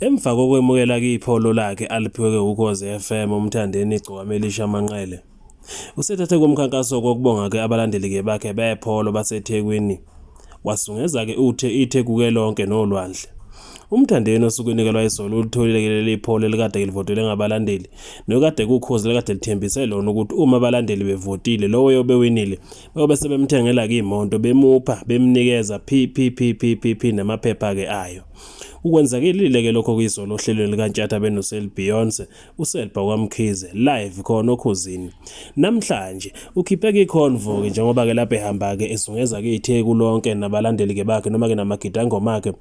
Emva kokwemukela kipho lolakhe aliphiwe kweUkhozi FM uMthandeni Gcokamaelisha Manqele, usethathe komkhankaso kokubonga ke abalandeli ke bakhe bepholo baseThekwini wasungeza ke uthe iThekuke lonke nolwandle. UMthandeni osuke inikelwa izolo ulitholile ke leli pholo elikade livotelwe ngabalandeli nokade kukhozi likade lithembise lona ukuthi uma abalandeli bevotile lowo yobe winile bayobe sebemthengela ke imonto bemupha bemnikeza phiphiphiphiphiphi namaphepha ke ayo. Ukwenzakelile ke lokho kuyizolo ohlelweni likaNtshatha benoSel Beyonce, uSelba kwaMkhize live khona okhozini. Namhlanje ukhiphe ke iConvo ke njengoba ke lapha ehamba ke ezungeza ke iTheku lonke nabalandeli ke bakhe noma ke namagidangoma akhe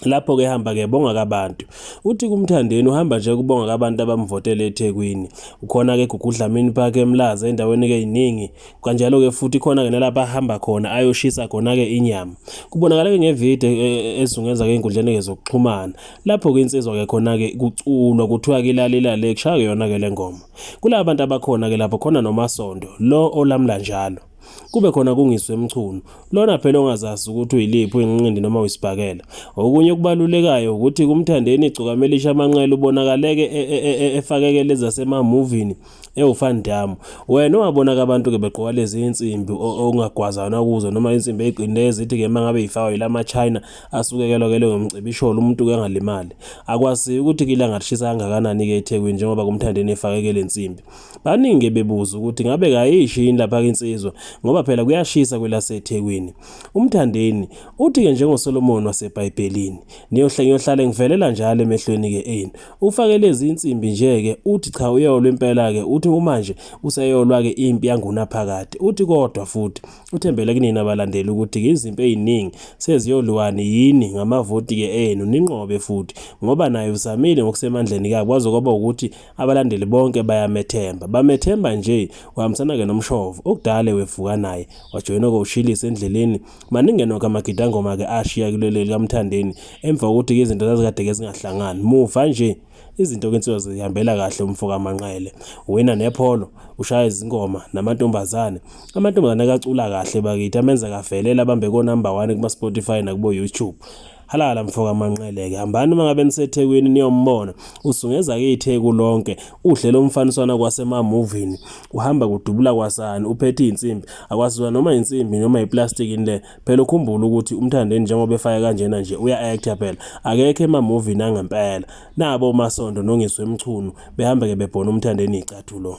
lapho ke hamba ke bonga kabantu uthi kumthandeni uhamba nje kubonga kabantu abamvotele eThekwini ukhona ke gugudlamini park emlaza endaweni ke iningi kanjalo-ke futhi khona-ke nalapho ahamba khona ayoshisa khona-ke inyama kubonakala-ke ngevidiyo e, e, ezungeza-ke ey'nkundleni-ke zokuxhumana lapho-ke insizwa-ke khona-ke kuculwa kuthiwa-ke ilalelale kushaya-ke yona-ke le ngoma kulaba bantu abakhona-ke lapho khona nomasondo lo olamla njalo kube khona kungiswe emchunu lona phela ongazazi ukuthi uyiliphi uyinqindi noma uyisibhakela okunye okubalulekayo ukuthi kumthandeni igcukamelisha amanqele ubonakaleke e, e, e, efakeke lezi zasemamuvini Ewu fan dam, wena owabona-ke abantu-ke begqoka lezi insimbi okungagwazana kuzo noma insimbi ey'qinile ezithi-ke uma ngabe yifakwa yila ma-China asukekelwa-kele ngomcibisholo umuntu-ke angalimali. Akwaziyo ukuthi-ke ilanga lishisa kangakanani-ke eThekwini njengoba kumthandeni efakeke le nsimbi. Baningi-ke bebuza ukuthi ngabe kayishi yini lapha-ke insizwa ngoba phela kuyashisa kwelaseThekwini. UMthandeni uthi-ke njengoSolomoni waseBhayibhelini, ngiyohlale ngivelela njalo emehlweni-ke enu. Ufake lezi insimbi nje-ke uthi cha uyolwa impela-ke uthi kumanje useyolwa-ke impi yangunaphakade. Uthi kodwa futhi uthembele kunina abalandeli ukuthi-ke izimpi eziningi seziyolwani yini ngamavoti-ke enu ninqobe futhi ngoba naye uzamile ngokusemandleni kabi kwaze kwaba ukuthi abalandeli bonke bayamethemba. Bamethemba nje wahambisana-ke nomshovo okudale wevuka naye wajoyina koshilisa endleleni Maningi nokho amagidangoma ke ashiya kuleli likaMthandeni emva kokuthi izinto zazikade ke zingahlangani. Muva nje izinto kwenziwa zihambela kahle umfoka Manqele. Wina nepholo, ushaya izingoma namantombazane. Amantombazane kacula kahle bakithi amenza kavelela bambe ko number 1 kuma Spotify nakubo YouTube. Halala mfoka Manqeleke hambani uma ngabe niseThekwini niyombona usungeza ke iTheku lonke uhle lomfaniswana kwasema movie uhamba kudubula kwasani uphethe insimbi akwazizwa noma insimbi noma iplastic le phela ukhumbula ukuthi umthandeni njengoba efaya kanjena nje uya actor phela akekho ema movie nangempela nabo masondo nongiswe emchunu behamba ke bebhona umthandeni icathulo